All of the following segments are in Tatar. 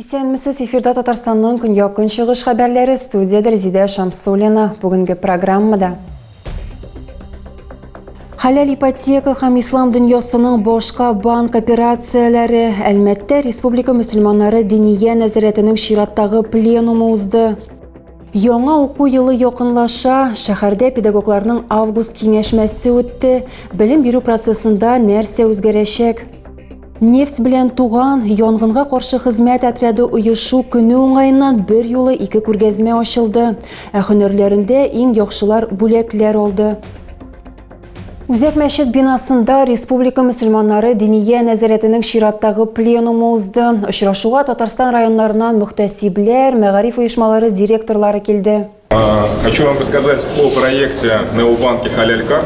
Исәнмесез, эфирда Татарстанның көньяк-көнчыгыш хәбәрләре студиядә Резидә Шамсуллина. Бүгенге программада Хәләл ипотека һәм ислам дөньясының башка банк операцияләре Әлмәттә республика мөселманнары динигә нәзарәтенең чираттагы пленумы узды. Яңа уку елы якынлаша, шәһәрдә педагогларның август киңәшмәсе үтте. Белем бирү процессында нәрсә үзгәрәчәк? Нефть белән туган янгынга каршы хезмәт отряды оешу көне уңаеннан бер юлы ике күргәзмә ачылды. Ә һөнәрләрендә иң яхшылар бүләкләр алды. Үзәк мәчет бинасында республика мөселманнары диния нәзарәтенең чираттагы пленумы узды. Очрашуга Татарстан районнарыннан мөхтәсибләр, мәгариф оешмалары директорлары килде. Хочу вам рассказать о проекте Необанки Халялька.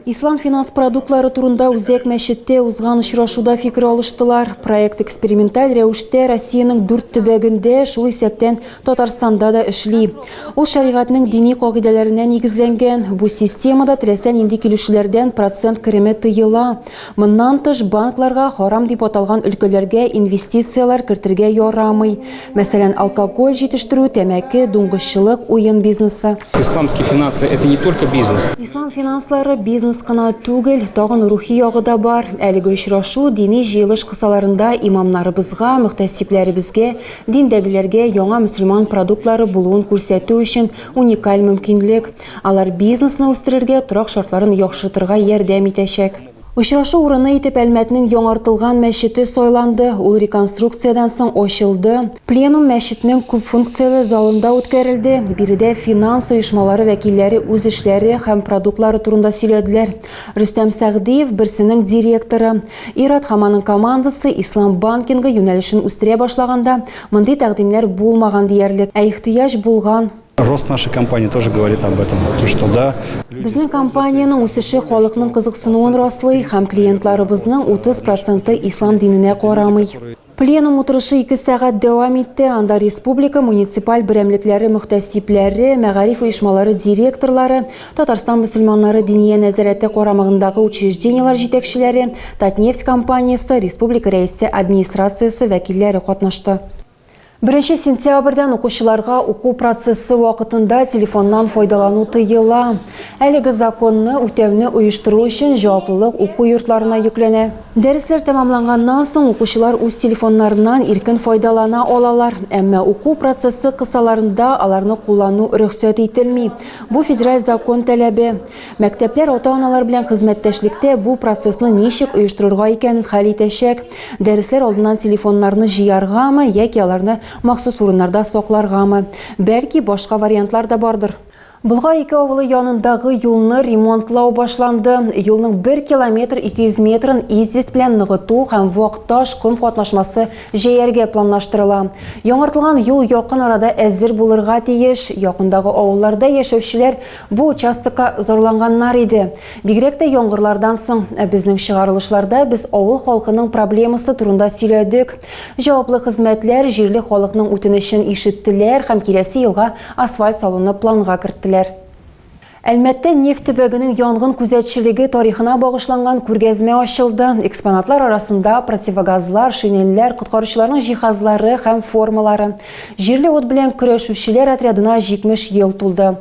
Ислам финанс продуктлары турында Үзәк мәчеттә узган очрашуда фикер алыштылар. Проект эксперименталь рәвештә Россиянең дүрт төбәгендә, шул исәптән Татарстанда да эшли. Ул шәригатьнең дини кагыйдәләренә нигезләнгән. Бу системада теләсә нинди килүчеләрдән процент кереме тыела. Моннан тыш, банкларга харам дип аталган өлкәләргә инвестицияләр кертергә ярамый. Мәсәлән, алкоголь җитештерү, тәмәке, дуңгызчылык, уен бизнесы. Исламские финансы, это не только бизнес. Ислам финанслары бизнес кына түгел, тагын рухи ягы да бар. Әлеге очрашу дини җыелыш кысаларында имамнарыбызга, мөхтәсибләребезгә, диндәгеләргә яңа мөселман продуктлары булуын күрсәтү өчен уникаль мөмкинлек. Алар бизнесны үстерергә, торак шартларын яхшыртырга ярдәм итәчәк. Очрашу урыны итеп Әлмәтнең яңартылган мәчете сайланды, ул реконструкциядән соң ачылды. Пленум мәчетнең күпфункцияле залында үткәрелде. Биредә финанс оешмалары вәкилләре үз эшләре һәм продуктлары турында сөйләделәр. Рөстәм Сәгъдиев, берсенең директоры. Ир-ат һәм аның командасы Ислам банкингы юнәлешен үстерә башлаганда, мондый тәкъдимнәр булмаган диярлек, ә ихтыяҗ булган. Рост нашей компании тоже говорит об этом, что да. Безнең компаниянең үсеше халыкның кызыксынуын раслый һәм клиентларыбызның 30 проценты ислам диненә карамый. Пленум утырышы ике сәгать дәвам итте. Анда республика муниципаль берәмлекләре мөхтәсибләре, мәгариф оешмалары директорлары, Татарстан мөселманнары диния нәзарәте карамагындагы учреждениелар җитәкчеләре, Татнефть компаниясе, республика рәисе администрациясе вәкилләре катнашты. Беренче сентябрьдән укучыларга уку процессы вакытында телефоннан файдалану тыела. Әлеге законны үтәүне оештыру өчен җаваплылык уку йортларына йөкләнә. Дәресләр тәмамланганнан соң укучылар үз телефоннарыннан иркен файдалана алалар, әмма уку процессы кысаларында аларны куллану рөхсәт ителми. Бу федераль закон таләбе. Мәктәпләр ата-аналар белән хезмәттәшлектә бу процессны ничек оештырырга икәнен хәл итәчәк. Дәресләр алдыннан телефоннарны җыяргамы яки аларны махсус урыннарда сакларгамы? Бәлки, башка вариантлар да бардыр. Болгар ике авылы янындагы юлны ремонтлау башланды. Юлның 1 километр 200 метрын известь белән ныгыту һәм вак таш, ком катнашмасы җәяргә планлаштырыла. Яңартылган юл якын арада әзер булырга тиеш. Якындагы авылларда яшәүчеләр Бу участокка зарланганнар иде. Бигрәк тә яңгырлардан соң. Ә безнең чыгарылышларда без авыл халкының проблемасы турында сөйләдек. Җаваплы хезмәтләр җирле халыкның үтенечен ишеттеләр һәм киләсе елга асфальт салуны планга керттеләр. Әлмәттә нефть төбәгенең янгын күзәтчелеге тарихына багышланган күргәзмә ачылды. Экспонатлар арасында противогазлар, шинельләр, коткаручыларның җиһазлары һәм формалары. Җирле ут белән көрәшүчеләр отрядына 70 ел тулды.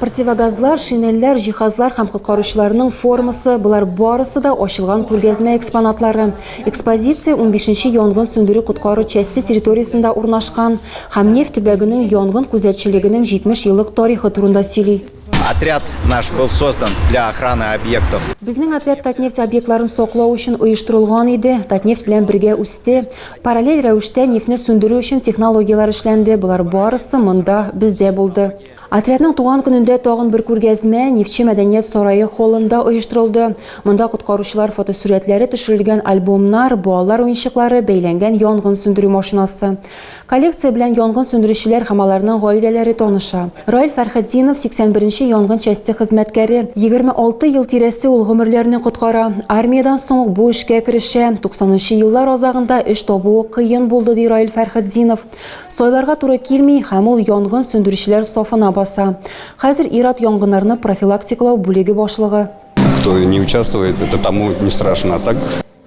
Противогазлар, шинельләр, җиһазлар һәм коткаручыларның формасы, болар барысы да ачылган күргәзмә экспонатлары. Экспозиция 15-нче янгын сүндерү-коткару часте территориясендә урнашкан һәм Нефть төбәгенең янгын күзәтчелегенең 70 еллык тарихы турында сөйли. Отряд наш был создан для охраны объектов. Безнең отряд Татнефть объектларын саклау өчен оештырылган иде, Татнефть белән бергә үсте. Параллель рәвештә нефтьне сүндерү өчен технологияләр эшләнде, болар барысы монда, бездә булды. Отрядның туган көнендә тагын бер күргәзмә Нефтьче мәдәният сарае холлында оештырылды. Монда коткаручылар фотосурәтләре төшерелгән альбомнар, балалар уенчыклары, бәйләнгән янгын сүндерү машинасы. Коллекция белән янгын сүндерүчеләр һәм аларның гаиләләре таныша. Раил Фәрхетдинов, 81 нче янгын часте хезмәткәре. 26 ел тирәсе ул гомерләрне коткара. Армиядән соң ук бу эшкә керешә. 90 нчы еллар азагында эш табуы кыен булды, ди Раил Фәрхетдинов. Сайларга туры килми һәм ул янгын сүндерүчеләр сафына баса. Хәзер ир-ат янгыннарны профилактикалау бүлеге башлыгы. Кто не участвует, это тому не страшно, а так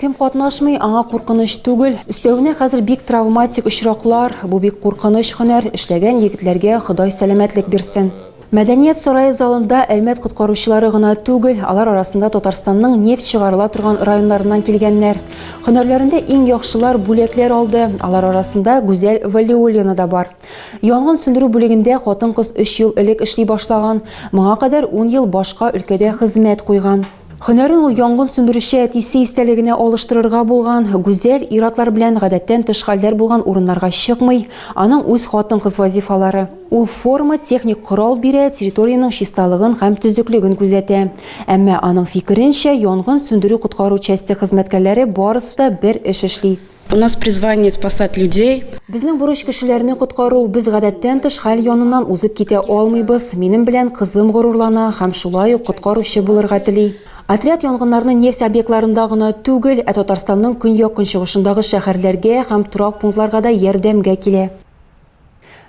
Кем катнашмый, аңа куркыныч түгел. Өстәвенә хәзер бик травматик очраклар, бу бик куркыныч һөнәр, эшләгән егетләргә Ходай сәламәтлек бирсен. Мәдәният сарае залында Әлмәт коткаручылары гына түгел, алар арасында Татарстанның нефть чыгарыла торган районнарыннан килгәннәр. Һөнәрләрендә иң яхшылар бүләкләр алды, алар арасында Гүзәл Вәлиуллина да бар. Янгын сүндерү бүлегендә хатын-кыз өч ел элек эшли башлаган, моңа кадәр ун ел башка өлкәдә хезмәт куйган. Һөнәрен ул янгын сүндерүче әтисе истәлегенә алыштырырга булган. Гүзәл ир-атлар белән гадәттән тыш хәлләр булган урыннарга чыкмый. Аның үз хатын-кыз вазифалары. Ул форма, техник корал бирә, территориянең чисталыгын һәм төзеклеген күзәтә. Әмма, аның фикеренчә, янгын сүндерү-коткару часте хезмәткәрләре барысы да бер эш эшли. У нас призвание спасать людей. Безнең бурыч кешеләрне коткару. Без гадәттән тыш хәл яныннан узып китә алмыйбыз. Минем белән кызым горурлана һәм шулай ук коткаручы булырга тели. Отряд янгыннарны нефть объектларында гына түгел, ә Татарстанның көньяк-көнчыгышындагы шәһәрләргә һәм торак пунктларга да ярдәмгә килә.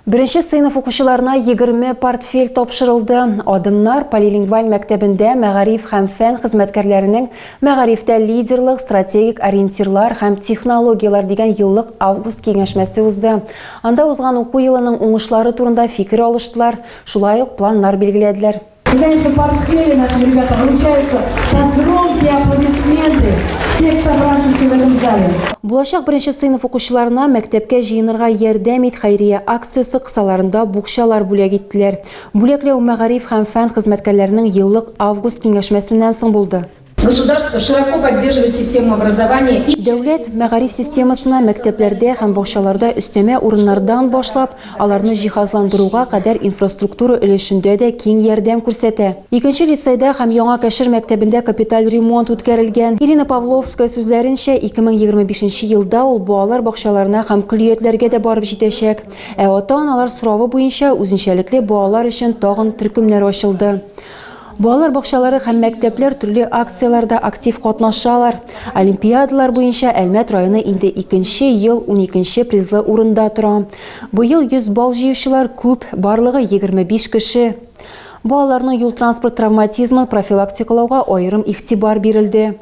Беренче сыйныф укучыларына 20 портфель тапшырылды. Адымнар полилингваль мәктәбендә мәгариф һәм фән хезмәткәрләренең мәгарифтә лидерлык, стратегик ориентирлар һәм технологияләр дигән еллык август киңәшмәсе узды. Анда узган уку елының уңышлары турында фикер алыштылар, шулай ук планнар билгеләделәр. Конечно, поспели наши ребята, вручаются под громкие аплодисменты всех собравшихся в этом зале. Булачак беренче сыйныф укучыларына мәктәпкә җыенырга ярдәм ит хәйрия акциясе кысаларында букчалар бүләк иттеләр. Бүләкләү мәгариф һәм фән хезмәткәрләренең еллык август киңәшмәсеннән соң булды. Государство широко поддерживает систему образования и. Дәүләт мәгариф системасына мәктәпләрдә һәм бакчаларда өстәмә урыннардан башлап, аларны җиһазландыруга кадәр инфраструктура өлешендә дә киң ярдәм күрсәтә. Икенче лицейда һәм Яңа Кәшер мәктәбендә капиталь ремонт үткәрелгән. Ирина Павловская сүзләренчә, 2025 елда ул балалар бакчаларына һәм көллиятләргә дә барып җитәчәк. Ә ата-аналар соравы буенча үзенчәлекле балалар өчен тагын төркемнәр ачылды. Балалар бакчалары һәм мәктәпләр төрле акцияләрдә актив катнашалар. Олимпиадалар буенча Әлмәт районы инде икенче ел уникенче призлы урында тора. Быел 100 бал җыючылар күп, барлыгы 25 кеше. Балаларның юл-транспорт травматизмын профилактикалауга аерым игътибар бирелде.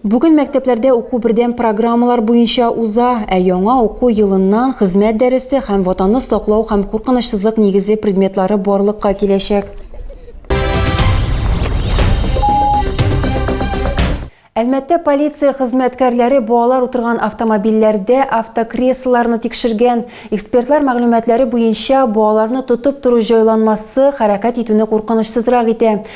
Бүген мәктәпләрдә уку бердәм программалар буенча уза, ә яңа уку елыннан хезмәт дәресе һәм ватанны саклау һәм куркынычсызлык нигезе предметлары барлыкка киләчәк. Әлмәттә полиция хезмәткәрләре балалар утырган автомобильләрдә автокреслоларны тикшергән. Экспертлар мәгълүматлары буенча, балаларны тотып тору җайланмасы хәрәкәт итүне куркынычсызрак итә.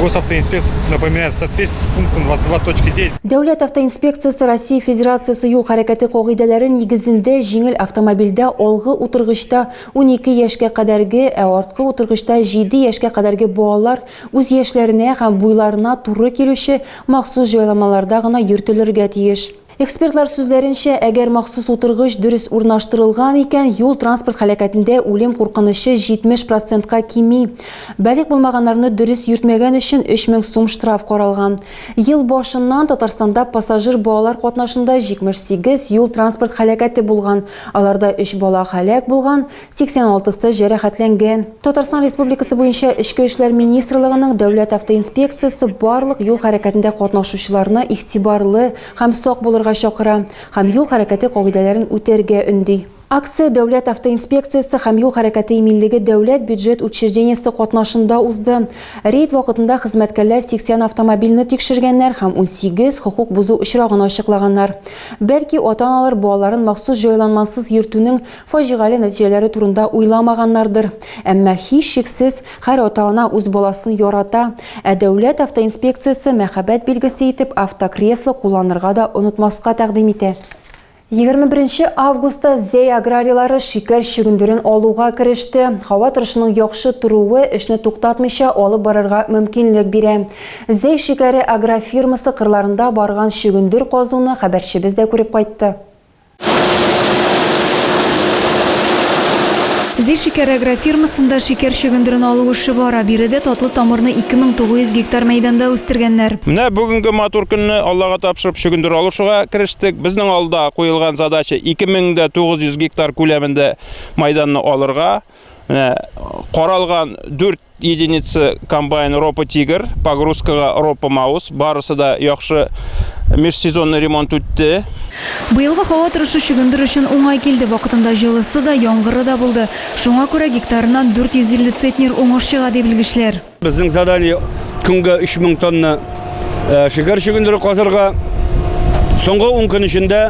Госавтоинспекция напоминает, в соответствии с пунктом 22.9 Дәүләт автоинспекциясе Россия Федерациясе юл хәрәкәте кагыйдәләре нигезендә җиңел автомобильдә алгы утыргычта 12 яшькә кадәрге, ә арткы утыргычта 7 яшькә кадәрге балалар үз яшьләренә һәм буйларына туры килүче махсус җайламаларда гына йөртелергә тиеш. Экспертлар сүзләренчә, әгәр махсус утыргыч дөрес урнаштырылган икән, юл-транспорт һәлакәтендә үлем куркынычы 70 процентка кими. Балигъ булмаганнарны дөрес йөртмәгән өчен 3000 сум штраф каралган. Ел башыннан Татарстанда пассажир-балалар катнашында 78 юл-транспорт һәлакәте булган, аларда өч бала һәлак булган, 86 сы җәрәхәтләнгән. Татарстан Республикасы буенча Эчке эшләр министрлыгының дәүләт автоинспекциясе барлык юл хәрәкәтендә катнашучыларны игътибарлы һәм сак булырга чакыра һәм юл хәрәкәте кагыйдәләрен үтәргә өнди. Акция Дәүләт автоинспекциясе һәм юл хәрәкәте иминлеге дәүләт бюджет учреждениесе катнашында узды. Рейд вакытында хезмәткәрләр 80 автомобильне тикшергәннәр һәм 18 хокук бозу очрагын ачыклаганнар. Бәлки ата-аналар балаларын махсус җайланмасыз йөртүнең Фаҗигале нәтиҗәләре турында уйламаганнардыр. Әмма, һичшиксез, һәр ата-ана үз баласын ярата. Ә дәүләт автоинспекциясе мәхәббәт билгесе итеп автокресло кулланырга да онытмаска тәкъдим итә. Егерме беренче августта Зәй аграрийлары шикәр чөгендерен алуга кереште. Һава торышының яхшы торуы эшне туктатмыйча алып барырга мөмкинлек бирә. Зәй шикәре агрофирмасы кырларында барган чөгендер казуны хәбәрчебез дә күреп кайтты. Зи шикәр агрофирмасында шикәр чөгендерен алу эше бара. Биредә татлы тамырны 2900 гектар мәйданда үстергәннәр. Менә бүгенге матур көнне Аллага тапшырып чөгендер алышуга керештек. Безнең алда куелган задача 2900 гектар күләмендә мәйданны алырга. Менә каралган 4 единица комбайн Ропа Тигр, погрузкага Ропа Маус, барысы да яхшы межсезонный ремонт үтте. Быелгы һава торышы чөгендер өчен уңай килде, вакытында җылысы да, яңгыры да булды. Шуңа күрә гектарыннан 450 центнер уңыш чыга, ди белгечләр. Безнең задание көнгә 3000 тонна э, шикәр чөгендере казырга. Соңгы 10 көн эчендә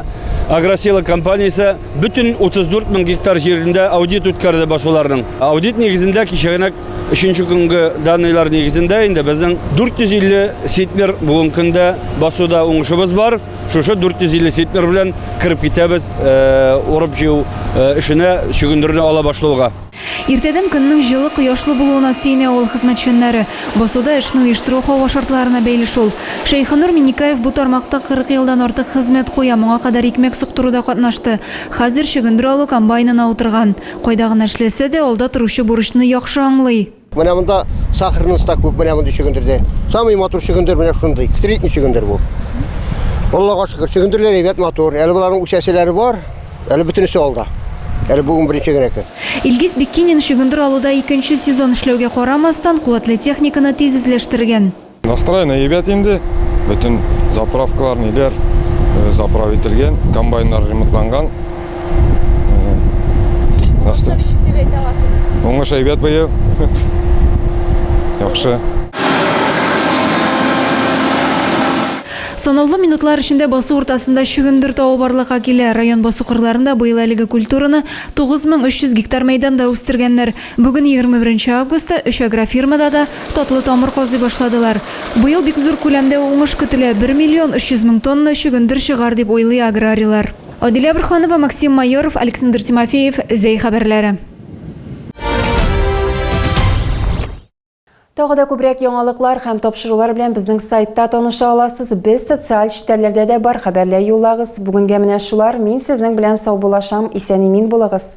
Агросила компаниясе бөтен 34 мең гектар җирендә аудит үткәрде басуларның. Аудит нигезендә кичәгенә өченче көнгө данныйлар нигезендә инде безнең 450 ситмер бүгенге көндә басуда уңышыбыз бар. Шушы 450 ситмер белән кіріп китәбез э, урып җыю э, эшенә чөгендерне ала башлауга. Иртәдән көннең җылы, кояшлы булуына сөенә авыл хезмәтчәннәре. Басуда эшне оештыру һава шартларына бәйле шул. Шәйхенур Миннекаев бу тармакта 40 елдан артык хезмәт куя, моңа кадәр икмәк суктыруда катнашты. Хәзер чөгендер алу комбайнына утырган. Кайда гына эшләсә дә, алда торучы бурычны яхшы аңлый. Менә монда сахарнысы да күп, менә мондый чөгендердә. Самый матур чөгендер менә шундый, средний чөгендер бу. Аллага шөкер, чөгендерләр әйбәт, матур. Әле боларның үсәселәре бар. Әле бөтенесе алда. Әле бүген беренче генә көн. Илгиз Биккинин чөгендер алуда икенче сезон эшләүгә карамастан, куәтле техниканы тиз үзләштергән. Настроение әйбәт инде. Бөтен заправкалар, ниләр заправ ителгән, комбайннар ремонтланган. Уңышны ничек дип әйтә аласыз? Уңыш әйбәт быел. Яхшы. Санаулы минутлар эчендә басу уртасында чөгендер тавы барлыкка килә. Район басу кырларында быел әлеге культураны 9300 гектар мәйданда үстергәннәр. Бүген, 21 августта, өч агрофирмада да татлы тамыр казый башладылар. Быел бик зур күләмдә уңыш көтелә, 1 миллион 300 мең тонна чөгендер чыгар, дип уйлый аграрийлар. Адилә Борһанова, Максим Майоров, Александр Тимофеев, Зәй хәбәрләре. Тагы да күбрәк яңалыклар һәм тапшырулар белән безнең сайтта таныша аласыз. Без социаль челтәрләрдә дә бар, хәбәрләр юллагыз. Бүгенгә менә шулар. Мин сезнең белән саубуллашам. Исән-имин булыгыз.